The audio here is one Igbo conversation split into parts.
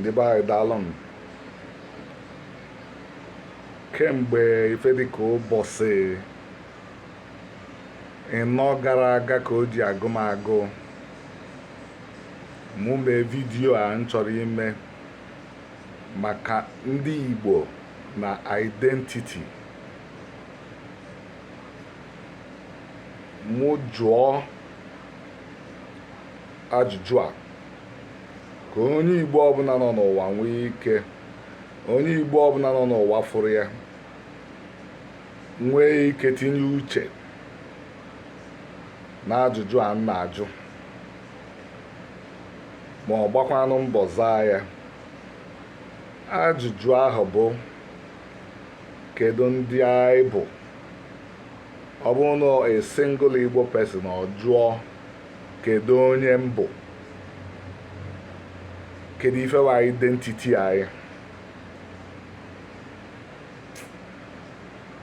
ndị be anyị daalụnụ kemgbe ife dịka ụbọsị ịnọ gara aga ka o ji agụ m agụ mụ mee vidiyo a m chọrọ ime maka ndị Igbo na identity mụ jụọ ajụjụ a ka onye Igbo ọbụla nọ n'ụwa nwee ike onye Igbo ọbụla nọ n'ụwa fụrụ ya nwee ike tinye uche n'ajụjụ a m na-ajụ ma ọ gbakwanụ mbọ zaa ya ajụjụ ahụ bụ kedu ndị anyị bụ ọ bụrụ na a single Igbo person ọ jụọ Kedụ onye m bụ? Kedụ ife wụ identity anyị?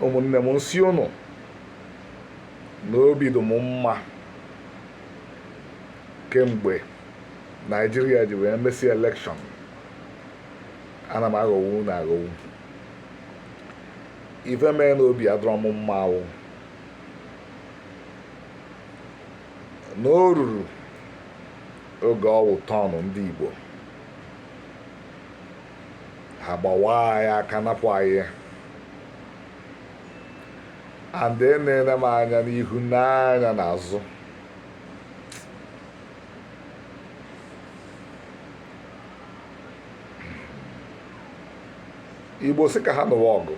Ụmụnne m m sị ụnụ na obi dị m mma kemgbe Naijiria ji wee mesịa elekshọn ana m aghọwu ụnụ aghọwu ife mee na obi adịrọ m mma wụ na o ruru oge ọ wụ turn ndị Igbo ha gbawa anyị aka napụ anyị ya and enere m anya n'ihu nee anya n'azụ Igbo sị ka ha nụwa ọgụ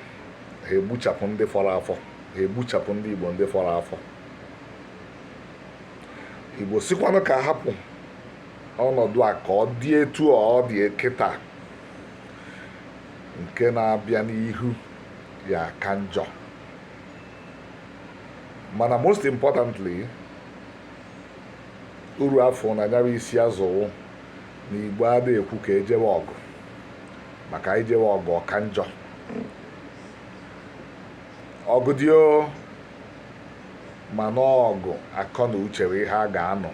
ha egbuchapụ ndị fọrọ afọ ha egbuchapụ ndị Igbo ndị fọrọ afọ Igbo sịkwanụ ka hapụ ọnọdụ a ka ọ dị etu ọ dị kịta nke na-abịa n'ihu ya-aka njọ mana most importantly uru afọ na anyara isi azụ wụ na Igbo ada ekwu ka e jewe ọgụ maka i jewe ọgụ ọ ka njọ ọgụ dị o mana ọgụ akọ na uche bụ ihe a ga-anụ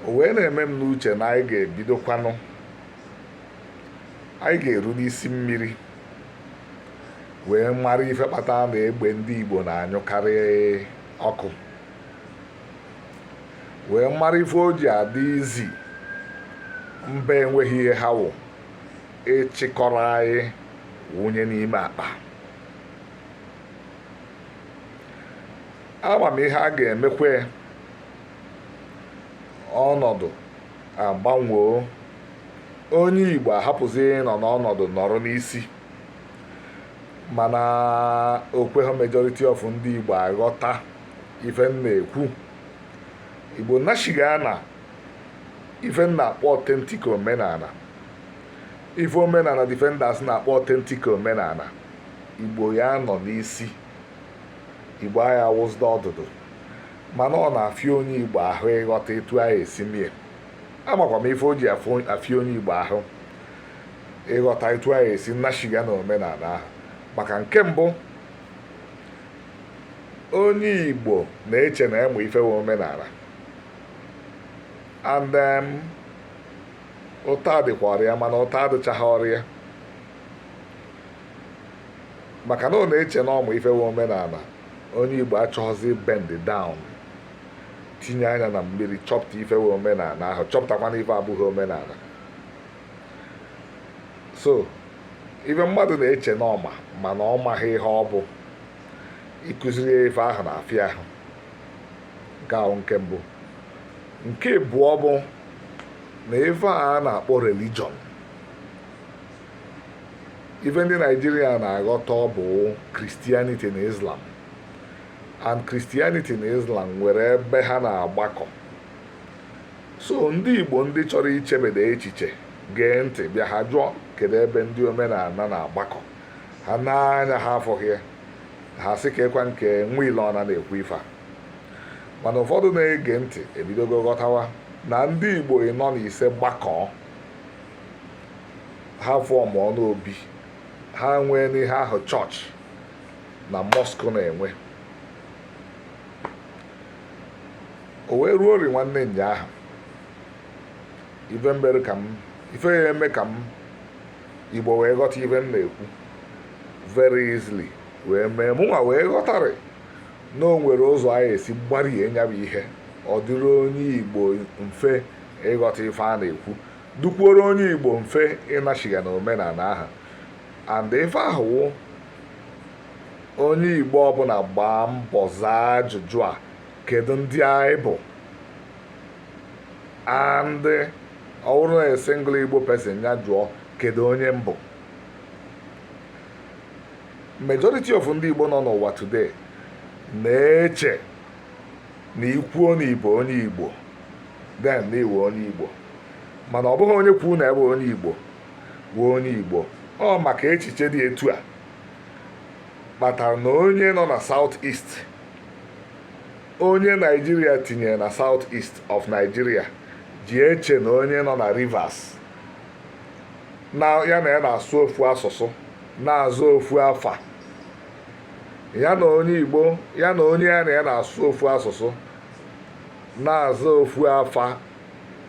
o wee na-eme m n'uche na anyị ga-ebidokwanụ anyị ga-eru n'isi mmiri wee mara ife kpata na egbe ndị Igbo na-anyụkarị ọkụ wee mara ife o ji adị izi mba enweghị ihe ha wụ ịchịkọrọ anyị wụnye n'ime akpa ama m ihe a ga-emekwe ọnọdụ agbanwoo onye Igbo ahapụzi ịnọ n'ọnọdụ nọrọ n'isi mana o kweghị majority of ndị Igbo aghọta ife m na-ekwu Igbo nachigha na ife m na-akpọ authentic omenana ife omenana defenders na-akpọ authentic omenana igbo ya-anọ n'isi igbo agha awụzi ọdụdụ mana ọ na-afịa onye igbo ahụ ịghọta etu anyị esi mee ya amakwa m ife o ji afịa onye igbo ahụ ịghọta etu anyị esi nachigha na omenana ahụ maka nke mbụ onye igbo na-eche na ya ma ife wụ omenana and um, ụta dịkwara ya mana ụta adịchaghịrị ya maka na ọ na-eche na ọ ma ife wụ omenana onye igbo achọghịzi bend down tinye anya na mmiri chọpụta ife wụ omenana ahụ chọpụtakwanụ ife abụghị omenana so ife mmadụ na-eche na ọ ma mana ọ maghị ihe ọ bụ ịkụziri ya ife ahụ na-afịa ahụ nke a wụ nke mbụ nke ịbụọ bụ na ife a na-akpọ religion ife ndị naijiria na-aghọta ọ bụ Christianity na islam and Christianity na islam nwere ebe ha na-agbakọ so ndị igbo ndị chọrọ ichebede echiche gee ntị bịa ha jụọ kedu ebe ndị omenana na-agbakọ ha nee anya ha afụghị ya ha sị kekwa nke nwa Ilona na-ekwu ife a mana ụfọdụ na-ege ntị ebidogo ghọtawa na ndị Igbo ịnọ na ise gbakọọ ha fọmụọnụ obi ha nweenụ ihe ahụ church na mosque na-enwe o wee ruori nwanne nyaahụ ife mere ka m ife ya-eme ka ụmụ igbo wee ghọta ife m na-ekwu very easily wee mee mụnwa wee ghọtarị na o nwere ụzọ anyị esi gbarie ya bụ ihe ọ dịrị onye Igbo mfe ịghọta ife a na-ekwu dịkwuoro onye Igbo mfe ịnachigha na omenana ahụ and ife ahụ wụ onye Igbo ọbụla gbaa mbọ zaa ajụjụ a kedu ndị anyị bụ and ọ bụrụ na a single Igbo person ya jụọ kedu onye m bụ majority of ndị Igbo nọ n'ụwa today na-eche na i kwuo na ị bụ onye Igbo then na ị wụ onye Igbo mana ọ bụghị onye kwuo na ọ bụ onye Igbo wụ onye Igbo ọ maka echiche dị etu a kpatara na onye nọ na South East onye Naijiria tinyere na South East of Nigeria ji eche na onye nọ na Rivers na ya na ya na-asụ ofu asụsụ na-aza ofu afa ya na onye Igbo ya na onye ya na ya na-asụ ofu asụsụ na-aza ofu afa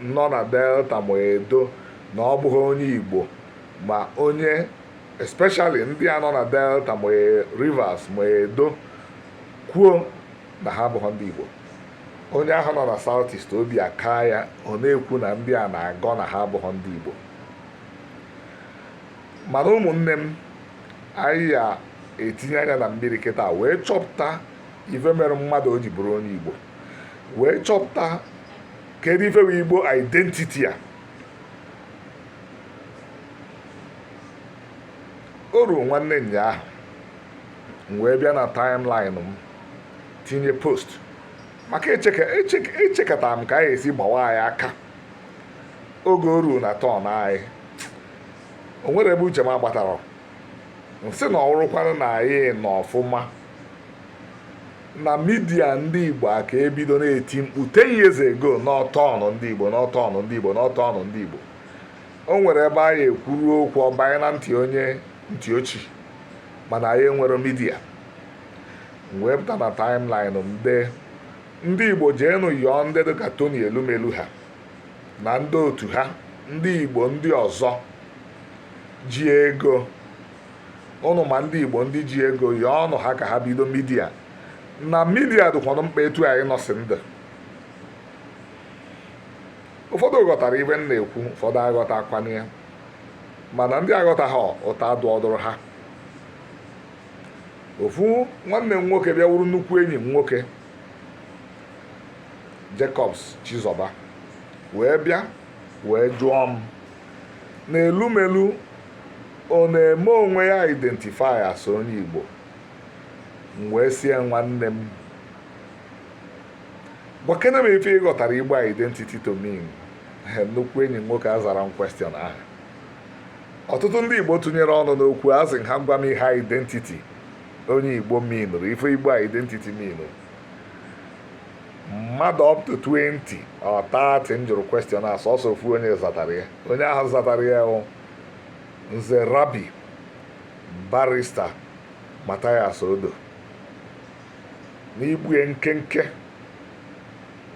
nọ na Delta ma Edo na ọ bụghị onye Igbo ma onye especially ndị a nọ na Delta ma Rivers ma Edo kwuo na ha abụghị ndị Igbo onye ahụ nọ na South East obi aka ya ọ na-ekwu na ndị a na-agọ na ha abụghị ndị Igbo mana ụmụnne m anyị ya-etinye anya na mmiri kịta wee chọpụta ife mere mmadụ o ji bụrụ onye Igbo wee chọpụta kedu ife bụ Igbo identity a o ruo nwanne ụnyaahụ m wee bịa na timeline m tinye post maka echekata m ka anyị esi gbawa anyị aka oge o ruo na tọn anyị o nwere ebe uche m agbatara nsị na ọrụkwanụ na anyị nọ ọfụma na midia ndị igbo a ka ebido na-eti mkpu ten years ago n'ọtọnụ ndị igbo n'ọtọnụ ndị igbo n'ọtọnụ ndị igbo o nwere ebe anyị ekwuru okwu ọbanye na ntị onye ntị ochi mana anyị enwere midia wee pụta na timeline m dee ndị igbo jeenụ yọọ ndị dịka Tony Elumelu ha na ndị otu ha ndị igbo ndị ọzọ ji ego unu ma ndị igbo ndị ji ego yọọnụ ha ka ha bido media na media dịkwanụ mkpa etu anyị nọsị ndụ ụfọdụ ghọtara ife m na-ekwu ụfọdụ aghọtahakwanụ ya mana ndị aghọtaha ụta dụọdụrụ ha ofu nwanne m nwoke bịa wụrụ nnukwu enyi m nwoke Jacobs Chizọba wee bịa wee jụọ m na Elumelu ọ na-eme onwe ya identify as onye Igbo m wee sie nwanne m gwakene m ife ị ghọtara Igbo identity to mean nnukwu enyi m nwoke azara m question ahụ Ọtụtụ ndị Igbo tụnyere ọnụ n'okwu asị m ha gwa m ihe identity onye Igbo meanụrụ ife Igbo identity meanụrụ mmadụ up to 20 or 30 m jụrụ question a sọsọ ofu onye zatara ya onye ahụ zatara ya bụ nze rabi barrister Mathias Odo n'igbu ya nkenke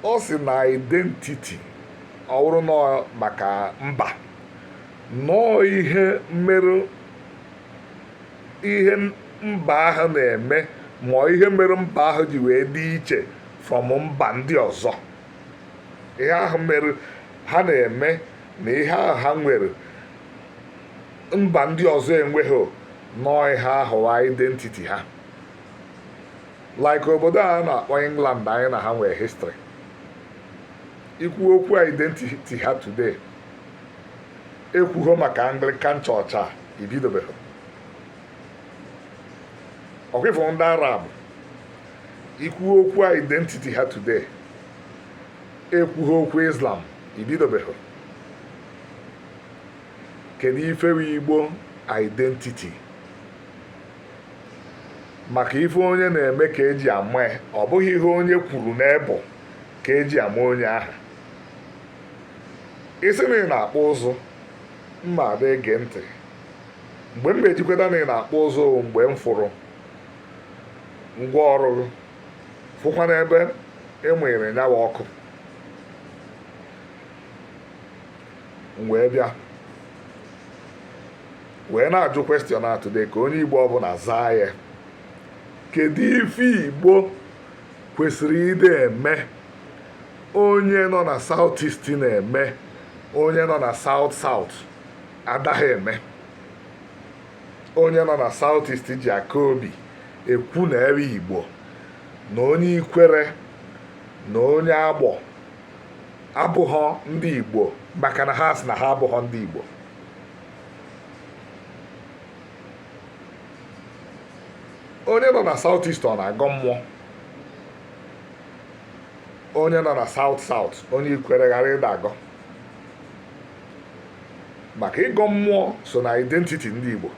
ọ sị na identity ọ bụrụ na maka mba N'ọọ ihe mere ihe mba ahụ na-eme ma ọ ihe mere mba ahụ ji wee dị iche from mba ndị ọzọ ihe ahụ mere ha na-eme na ihe ahụ ha nwere mba ndị ọzọ enweghị n'ọọ ihe ahụ identity ha like obodo a na-akpọ England anyị na ha nwee history i kwuo okwu identity ha today ekwughị maka Anglican church a i bidobeghị ọkwa ị fụ ndị Arab i kwuo okwu identity ha today ekwughị okwu Islam i bidobeghị kedu ife bụ Igbo identity maka ife onye na-eme ka eji ama ọ bụghị ihe onye kwuru na ya bụ ka eji ama onye ahụ ị sị na ị na-akpụ ụzụ mma ada ege ntị mgbe m na-eji kweta na ị na-akpụ ụzụ mgbe m fụrụ ngwa ọrụ gị fụkwa n'ebe ịmụnyere e nyawa ọkụ m wee bịa wee na-ajụ question a today ka onye igbo ọbụla zaa ya kedu ife igbo kwesịrị ịda eme onye nọ na south east na-eme onye nọ na south south adaghị eme onye nọ na south east ji aka obi ekwu na ya bụ igbo na onye ikwere na onye agbọ abụghọ ndị igbo maka na ha sị na ha abụghọ ndị igbo onye nọ na south east ọ na-agọ mmụọ onye nọ na south south onye ikwere ghara ịda agọ maka ịgọ mmụọ so na identity ndị Igbo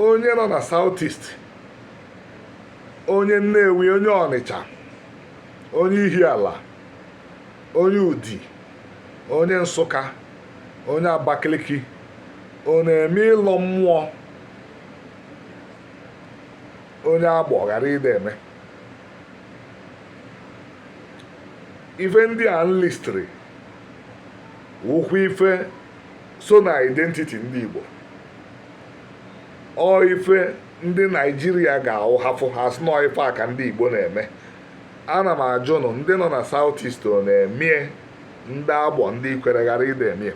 onye nọ na south east onye Nnewi onye Ọnịcha onye Ihiala onye Udi onye Nsụka onye Abakaliki ọ na-eme ịlọ mmụọ onye agbọ ghara ịda eme ife ndị a m listrị wụkwa ife so na identity ndị Igbo ọ ife ndị Naijiria ga-awụ ha fụ ha sị na ọ ife a ka ndị Igbo na-eme ana m ajụ unu ndị nọ na South East ọ na-emie ndị agbọ ndị ikwere ghara ịda emie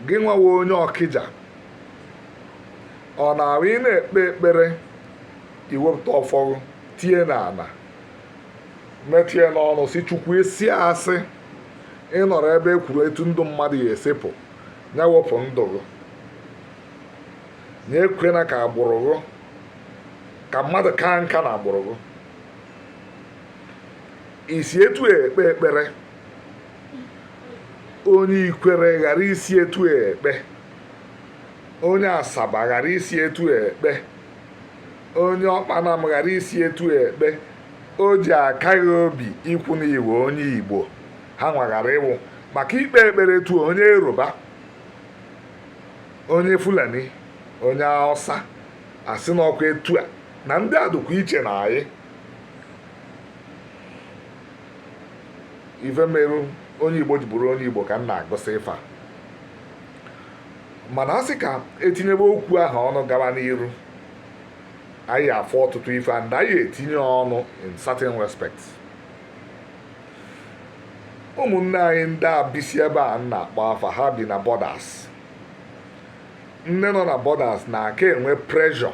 gị nwa wụ onye ọkịja ọ na-awụ ị na-ekpe ekpere i wepụta ọfọ gụ tie n'ana metie n'ọnụ sị chukwu ị sị asị ị nọrọ ebe e kwuru etu ndụ mmadụ ya-esi pụ ya wepụ ndụ gị nya ekwena ka agbụrụ gị ka mmadụ kaa nka na agbụrụ gị i si etu a ekpe ekpere onye ikwere ghara isi etu ekpe onye asaba ghara isi etu ekpe onye okpanam ghara isi etu ekpe o ji aka gị obi ikwu na ị wụ onye igbo ha nwa ghara ịwụ maka i kpee ekpere etu a onye yoruba onye fulani onye hausa asị na ọ kwa etu a na ndị a dịkwa iche na anyị ife merụ onye igbo ji bụrụ onye igbo ka m na-agụsị ife a mana a sị ka e tinyebe okwu ahụ ọnụ gawa n'iru anyị afụ ọtụtụ ife and anyị etinye ọnụ in certain respects ụmụnne anyị ndị a bisi ebe a m na-akpọ afa ha bi na borders ndị nọ na borders na-aka enwe pressure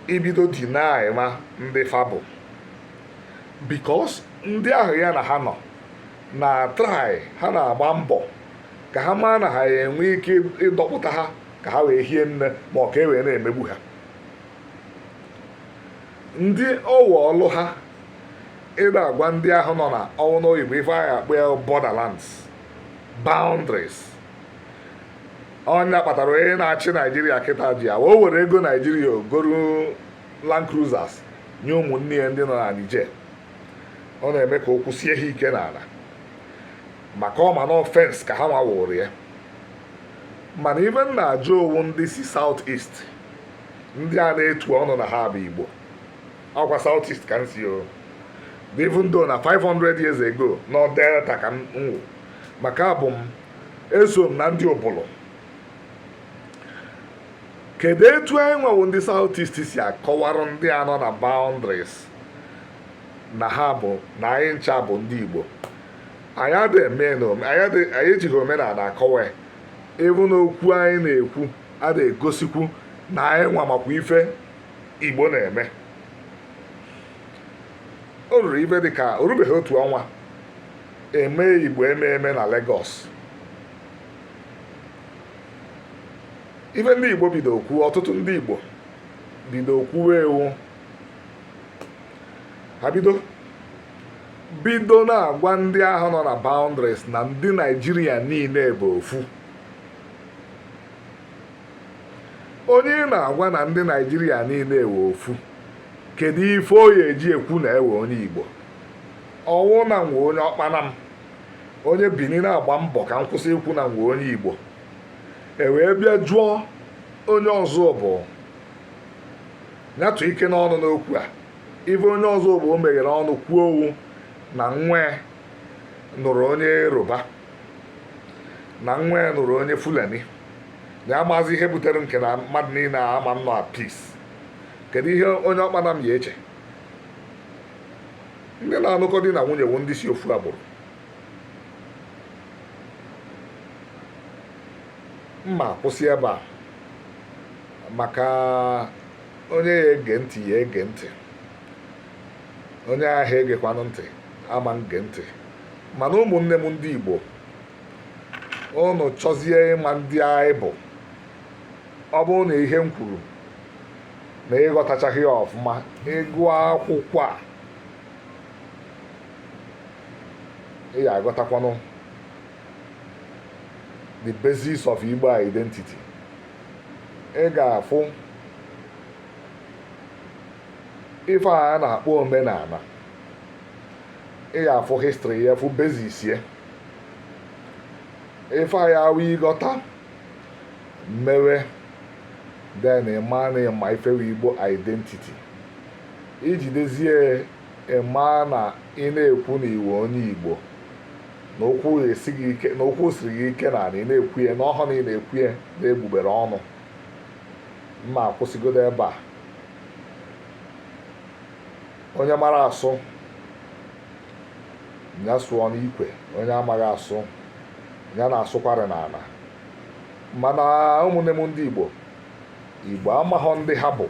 ibido deny ma ndị fa bụ because ndị ahụ ya na ha nọ na-atry ha na-agba mbọ ka ha maa na ha ya-enwe ike ịdọkpụta ha ka ha wee hie nne ma ọ ka e wee na-emegbu ha ndị ọ wụ ọlụ ha ịda agwa ndị ahụ nọ na ọ wụ n'oyibo ife a ya-akpọ ya borderlands boundaries ọ nya kpatara onye na-achị naijiria kịta ji awụ o were ego naijiria o goro Land Cruisers nye ụmụnne ya ndị nọ na Niger ọ na-eme ka ụkwụ sie ha ike n'ana maka ọ ma na ọ fence ka ha nwa wụụrụ ya mana ife m na-ajụ wụ ndị si South East ndị a na-etu ọnụ na ha bụ Igbo ọ wụkwa South East ka m si o even though na 500 years ago na Delta ka m wụ maka abụ m eso m na ndị ụbụlụ kedu etu anyị nwa wụ ndị South East si akọwara ndị a nọ na boundaries na ha bụ na anyị ncha bụ ndị Igbo anyị adị eme na ome- anyị adị- anyị ejighị omenala akọwa ya even na okwu anyị na-ekwu a na-egosikwu na anyị nwa makwa ife Igbo na-eme o ruru ife dị ka o rubeghị otu ọnwa eme Igbo ememe na Lagos ife ndị igbo bido kwuo ọtụtụ ndị igbo bido kwuwe wụ ha bido bido na-agwa ndị ahụ nọ na boundaries na ndị naijiria niile bụ ofu onye ị na-agwa na ndị naijiria niile wụ ofu kedu ife ọ ya eji ekwu na ọ wụ onye igbo ọ wụ na m wụ onye ọkpanam onye bini na-agba mbọ ka m kwụsị ikwu na m wụ onye igbo e wee bịa jụọ onye ozubulu nyatụ ike n'ọnụ n'okwu a ife onye ozubulu meghere ọnụ kwuo wụ na nwa ya nụrụ onye yoruba na nwa ya nụrụ onye fulani na amazi ihe butere nke na mmadụ niile ama nọ at peace kedu ihe onye ọkpanam ya eche ndị na-anụkọ di na nwunye bụ ndị si ofu agbụrụ mma akwụsị ebe a maka onye ya ege ntị ya ege ntị onye ahụ egekwanụ ntị ama ege ntị mana ụmụnne m ndị Igbo ụnụ chọzie ịma ndị anyị bụ ọ bụrụ na ihe m kwuru na ị ghọtachaghị ya ọfụma ị gụọ akwụkwọ a ị ya aghọtakwanụ the basis of Igbo identity ị ga-afụ ife a na-akpọ omenala ị ya afụ history ya fụ basis ya ife a ya awụ ị ghọta mmewe then ị maa na ị ma ife wụ igbo identity i jidezie ị ma na ị na-ekwu na ị wụ onye igbo na ụkwụ esi gị ike na ụkwụ siri gị ike n'ana ị na-ekwu ya na ọhọ na ị na-ekwu ya na egbugbere ọnụ mma akwụsịgodo ebe a onye mara asụ ya sụọ n'ikwe onye amaghị asụ ya na-asụkwarị n'ala mana ụmụnne m ndị Igbo Igbo amaghọ ndị ha bụ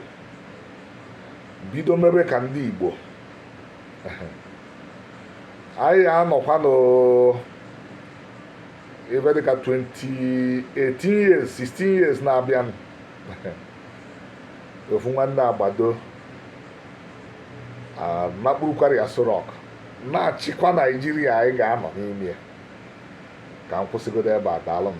bido mebe ka ndị Igbo anyị anọkwa n'ebe dịka 28 years 16 years na-abịa ofu nwanne agbado ah, na kpurukwari Aso Rock na-achịkwa Naijiria anyị ga-anọ n'ime ya ka m kwụsịgodo ebe a daalụ m